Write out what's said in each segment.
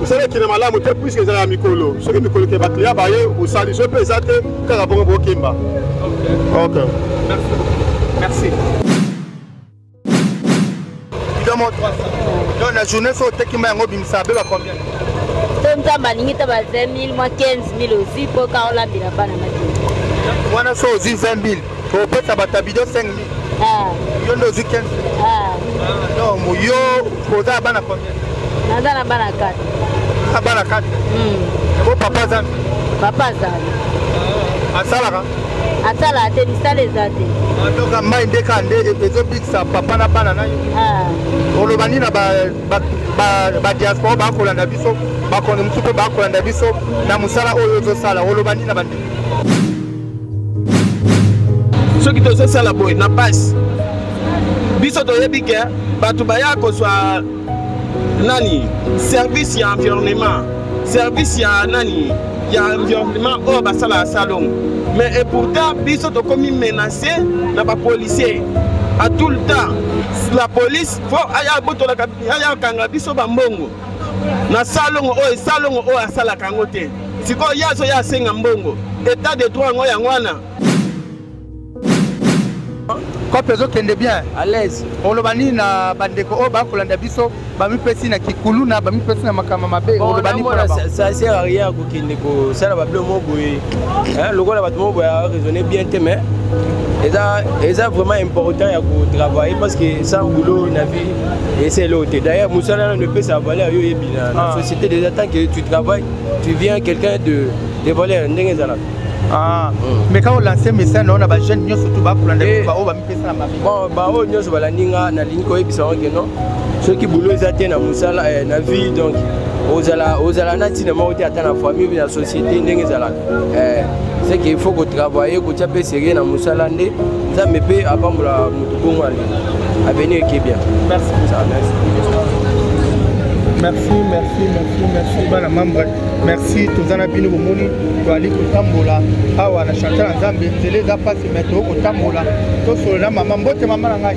mosala ekende malamu te puiske ezala ya mikolo soki mikolo ke bakliya baye osali so mpe eza te kaka bongo bokemba ok merci bidon 300 donc na journée fo oteki ma yango obimisa abeba combien to nzambe alingi ta ba 20 000 mwa 15 000 ozwi mpo ka olambela bana mati wana so ozwi 20 000 kopesa bato ya bido 5 mi ah. yo nde ozwi 15 ah. donc yo oza na bana combien naza na bana 4 na bana 4 yango hmm. papa azali papa azali ah, asalaka asalaka te misala eza te donc mai nde kaka nde e-, ezobikisa papa na bana na yo oloba nini na badiaspora bakolanda biso bakonde mosusu mpe bakolanda biso na mosala oyo ozosala oloba nini na bandeko soki tozosala boye na base biso toyebi ke bato baya kozwa nani service ya environnement service ya nani ya environnement oyo basalaka salongo mais et pourtant biso tokomi menace na bapolicier à tout le temps la police fo aya botolaka aya kanga biso bambongo na salongo oyo salongo oyo asalaka yango te sikoyo ye azoya asenga mbongo etat de droit yango yango wana kope ezokende bien alaise oloba nini na bandeko oyo bakolanda biso bamipesi na kikuluna bamipesi na makambo mabe oloba nini kende kosala babilo mo boye lokola bato mo boye araisonne bien te mais eza eza vraiment important ya kotravaille parce que sans boulot na vie esa eloko te d'ailleurs mosala nano epesa valeur yo oyebi na ah. société déjà tant que tu travailles tu viens quelqu'un de, de valeur ndenge ezalaka Ah. Mm. mais quand olanse message nao na bajeune nyonso tu bakolanda eh. baoyo bamipesa na mabe bon baoyo nyonso balandi nga nalingi koyebisa yango ke non soki boulot eza te na mosala eh, na vie donc ozala ozala na ntina moko te ata na famille na société ndenge ezalaka eh, c'est qu'il faut kotravaille kotya mpe serie na mosala nde nzambe mpe apambola motu bongo ale avenir eke bien merci merci merci merci merci bana membre merci toza na bino bomoni toali kotambola awa na chantier ya nzambe nzela eza mpasi mai tokotambola tosolola mama mbote mama na ngai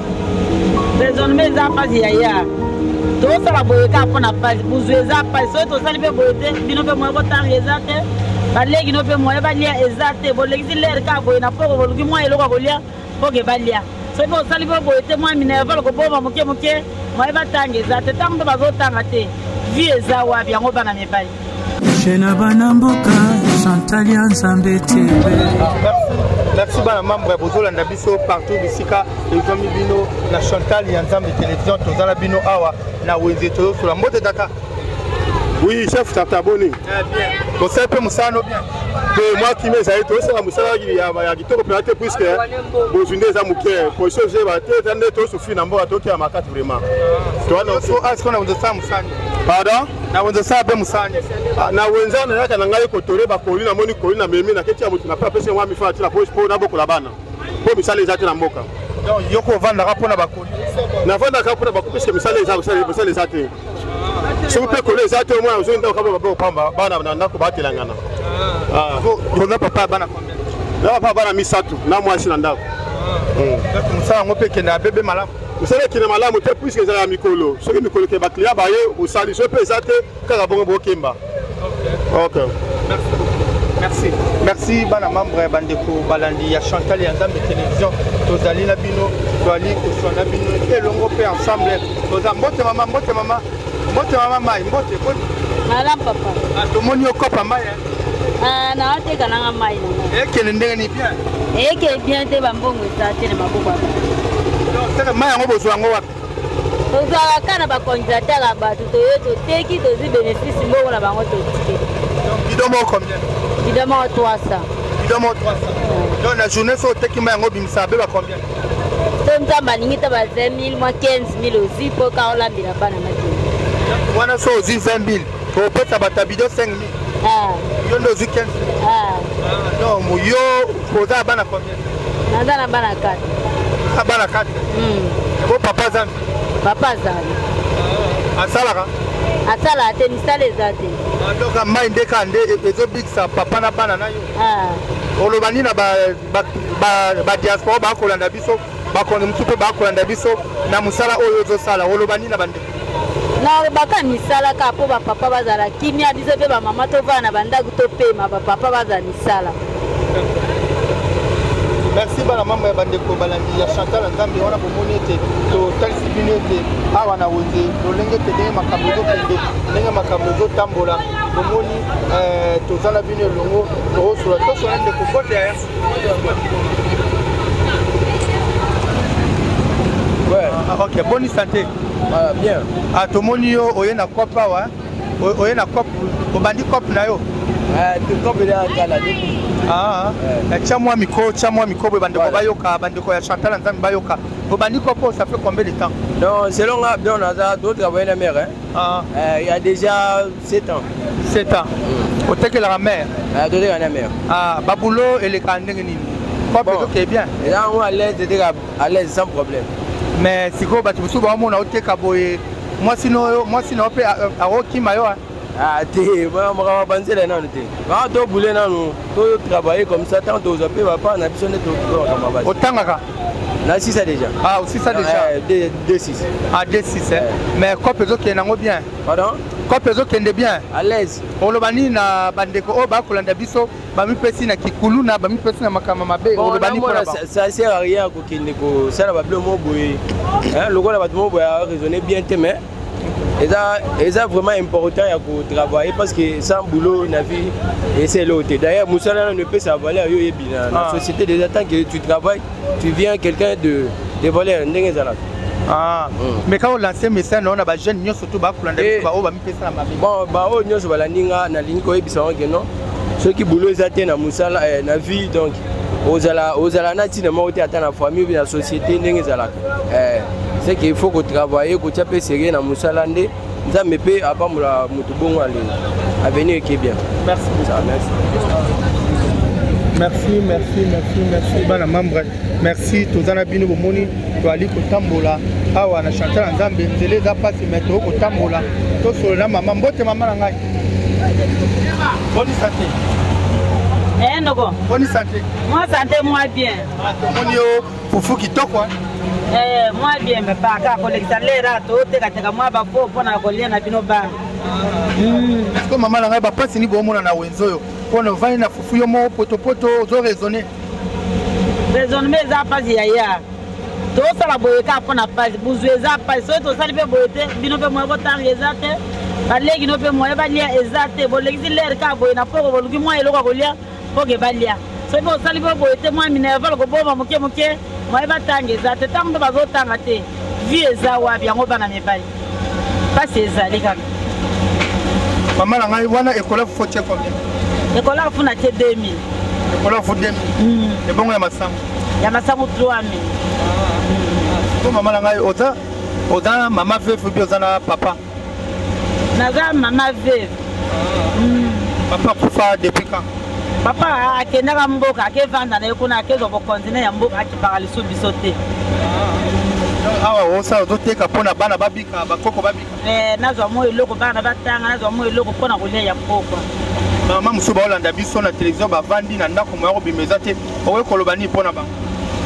raisonnement eza mpasi yaya tosala boye kaka mpo na mpasi buzu eza mpasi soki tosali mpe boye te bino mpe moye botanga eza te baleki no mpe moye balia eza te bolekisi lere kaka boye na poko boluki mwa eloko ya kolia poke balia soki mpe osali mpe boye te mwa minerval kobomba moke moke moye batanga eza te ntango mpe bazotanga te vie eza wapi yango bana mibali chez na bana mboka chantal ya nzambe tebe merci bana membre bozolanda biso partout bisika ezwami bino na chantal ya nzambe télévision toza na bino awa na wenze toyosola mbote tata oui chef tata boni eh, tosali mpe mosala no bien mpe mwa kimia ezali tosala mosala ya kitoko mpenza te puiske bozwi nde eza moke position ezeba te eza nde tosufi na mboka tokela makasi vraiment towana so asikona bozosala mosala pardon na wenza sala mpe mosala nini ah, na wenza nayaka na ngai kotole bakoli namoni koli na memi naketi ya moto na mpe apesi yango amifaa tina mpo nabokola bana mpo misala eza te na mboka yoko ovandaka mpo na bakoli navandaka mpo na bakoli piske misala eza misala eza te soki mpe koli eza te omwana ozongi ndako kaba babe kopamba bana na ndako batelangana ah. Ah. oza papa ya bana na papa bana misato na mwasi na ndako mosala yango mpe ekendaka bebe malamu mosala ekende malamu te puiske ezala ya mikolo soki mikolo ekende bakliya baye osali so mpe eza te kaka bongo bokemba ok merci merci bana membre ya bandeko balandi ya chantal ya nzambe télévision tozali na bino toali koswa na bino elongo mpe ensemble toza mbote mama mbote mama mbote mama mai mbote malamu papa ah, tomoni okopa mai Ah, na ateka nanga mai ekende ndenge ni bien eke bien te bambongo eza te na maboko seke mai yango bozwa yango wapi tozwaka ka na bacondidateur ya bato toye toteki tozwi bénéfice mbongo na bango totike bido moko combien bido moko 300 bido moko 300 donc na journée so oteki mai yango obimisa beba combien to nzambe alingi ta ba 20 000 mwa 15 000 ozwi mpo ka olambela bana makei wana so ozwi 20 000 kopesa bato ya bido 5 mi ah. yo nde ozwi 15 ah. donc yo oza na bana combien naza na bana 4 na bana 4 yango hmm. papa azali papa azali ah, asalaka asalaka te misala eza te donc mai nde kaka nde e-, ezobikisa papa na bana na yo oloba nini na badiaspora bakolanda biso bakonzi mosusu mpe bakolanda biso na mosala oyo ozosala oloba nini na bandeko nalobaka misala kaka mpo bapapa bazala kimia biso mpe bamama tovanda na bandako topema bapapa bazala misala merci bana mama ya bandeko balandi ya chantal nzambe wana bomoni ete totalisi bino ete awa na wenze lolenge ete ndenge makambo ezokende ndenge makambo ezotambola bomoni eh, toza na bino elongo tokosola tosola ndeko kote ya Ah, ok boni sante ah, bien ah, tomoni yo oye na cop awa oye na cop obandi cop na yo tya mwa miko tya mwa miko boye bandeko bayoka bandeko ya chantal ya nzambe bayoka obandi cop oyo ça fait combien de temps non selon nga bien naza d'autres aboye na mare ya déjà 7 ans 7 ans mm. otekelaka mère ah, totekaka na mère ah, babulo elekaka ndenge nini oke bien eza yango alaise eteka alaise sans problème mais sikoyo bato mosusu baomona oteka boye mwasi na yo mpe akokima yo ah, te makambo babanzela nanu te aa tobule nanu totravaille comme ça ntango tozwa mpe bapaa na biso nde toakamabasi otangaka na sisa déjà ah osisa déjà eh, de 6 ah de 6 eh. mais cope ezokende yango bien Pardon? Kope ezokende bien. À l'aise. Oloba nini na bandeko oyo bakolanda biso bamipesi na kikuluna bamipesi na makambo mabe oloba nini mpona bango? Ça sert à rien kokende kosala babilo moko boye lokola bato moko boye araisonne bien te mais eza eza vraiment important ya kotravaille parce que sans boulot na vie ese eloo te d'ailleurs mosala nano epesa valeur yo oyebi na ah. société déjà tant que tu travailles tu viens quelqu'un de de voleur ndenge ezalaka Ah. Mm. mais quand olanse message na yo na bajeune nyonso to bakolanda eh. biso baoyo bamipesa na mabe bon baoyo nyonso balandi nga nalingi koyebisa yango ke non soki boulot eza te na mosala eh, na vie donc ozala ozala na ntina moko te ata na famille na société ndenge ezalaka eh, c'est qu'il faut kotravaille kotya mpe serie na mosala nde nzambe mpe apambola moto bongo ale avenir eke bien merci merci merci merci merci bana membre merci toza na bino bomoni toali kotambola awa na chantal ya nzambe nzela eza mpasi mai toyoi kotambola tosolo na mama mbote mama na ngai boni sante eh, noko boni sante mwa sante mwa bien ah, tomoni yo fufu kitoko eh? eh, mwa biembe mpa kaka kolekisa lera totekateka mwa bafo mpo na kolia na bino bana ko mama na ngai bapasi ni boomona na wenze oyo mpo na ovandi na fufu yo moko potopoto ozo raisonne raisonnement eza mpasi ya ya tosala boye kaka mpo na mpasi buzwi eza mpasi soki tosali mpe boye te bino mpe moye botanga eza te baleki no mpe moye balia eza te bolekisi lere kaka boye na poko boluki mwa eloko ya kolia boke balia soki osali mpe boye te mwa minerval koboma moke moke mwaye batanga eza te ntango mpe bazotanga te vie eza wapi yango bana mibali mpasi ezali kaka mama na ngai wana ekolaki fo tie combien ekolaki fo na tie 2000 ekolaki fo 2000 hmm. ebongo ya masango ya masango 3000 po mama na ngai oza oza mama vefu bi oza na papa naza mama veve mm. papa kufa depuis quand papa akendaka mboka akevanda na ye kuna akezwa bokonzine ya mboka akipaka lisu biso te ah. awa osa ozoteka mpo na bana babika bakoko babika eh, nazwa mwa eloko bana batanga nazwa mwa eloko mpo na kolia ya mpokwa mama mosusu baolanda biso na televizio bavandi na ndako moya kobima eza te okoki koloba nini mpo na bango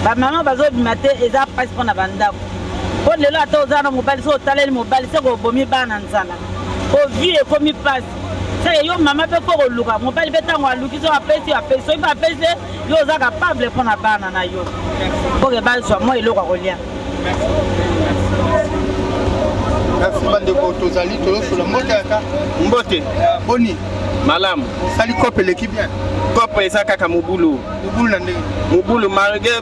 bamama bazobima te eza mpasi mpo na bandako po lelo ata oza na mobali soki otaleli mobali seke obomi bana nzala ovie ekomi mpasi seke yo mama mpe fo koluka mobali mpe ntango aluki soki apesi yo apesi soki mpe apesi te yo oza kapable mpo na bana na yo mpoke bazwa mwa eloko ya kolia merci bandeko tozali toyosola mbote ata mbote boni malamu sali cope eleki bien cope eza kaka mobulu mobulu na ndenge mobulu malgre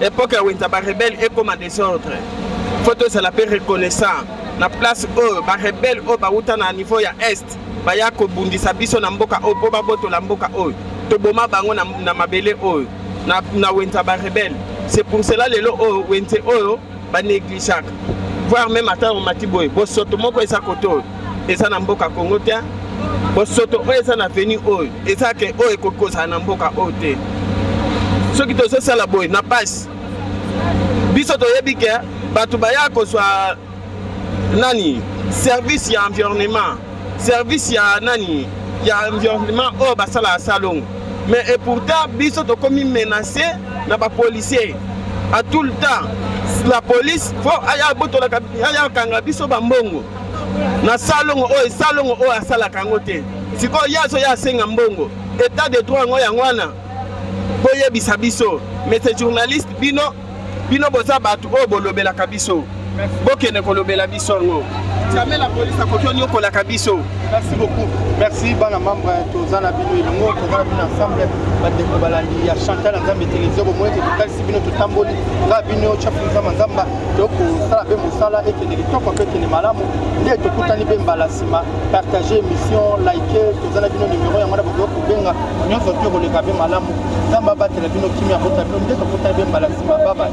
epoke ya wenza barebele ekoma desordre fo tozala mpe reconnaissant na place oyo barebele oyo bawuta na niveau ya est baya kobundisa biso na mboka oyo mpo babotola mboka oyo toboma bango na, na mabele oyo na, na wenza barebele c'est pour cela lelo oyo wenze oyo banegligeaka voire meme ata omati boye bosoto moko eza kote oyo eza na mboka congo te bosoto oyo eza na veni oyo eza ke oyo ekoki kozala na mboka oyo te soki tozosala boye na pasi biso toyebi ke bato baya kozwa nani service ya environnement service ya nani ya environnement oyo basalaka salongo mais et pourtant biso tokomi menace na bapolicier à tout le temps la police fo aya botolaka aya kanga biso bambongo na salongo oyo salongo oyo asalaka yango te sikoyo ye azoya asenga mbongo etat de droit yango yango wana boyebisa biso mese journaliste bino bino boza bato oyo bolobelaka biso bokende kolobela biso yango jamais la police akoki onyokolaka biso merci beaucoup merci bana membre toza na bino elongo tozala bino ensemble bandeko balandi ya chantal nzambe televizio bomoi ete totalisi bino totamboli nga bino chapu nzamba nzamba tokosala mpe mosala ekende kitoko mpe ekende malamu nde tokutani mpe mbala nsima partage émission like toza na bino numero yango na bokoki kobenga nyonso te koleka mpe malamu nzambe abatela bino kimia abota bino nde tokutani mpe mbala nsima babaye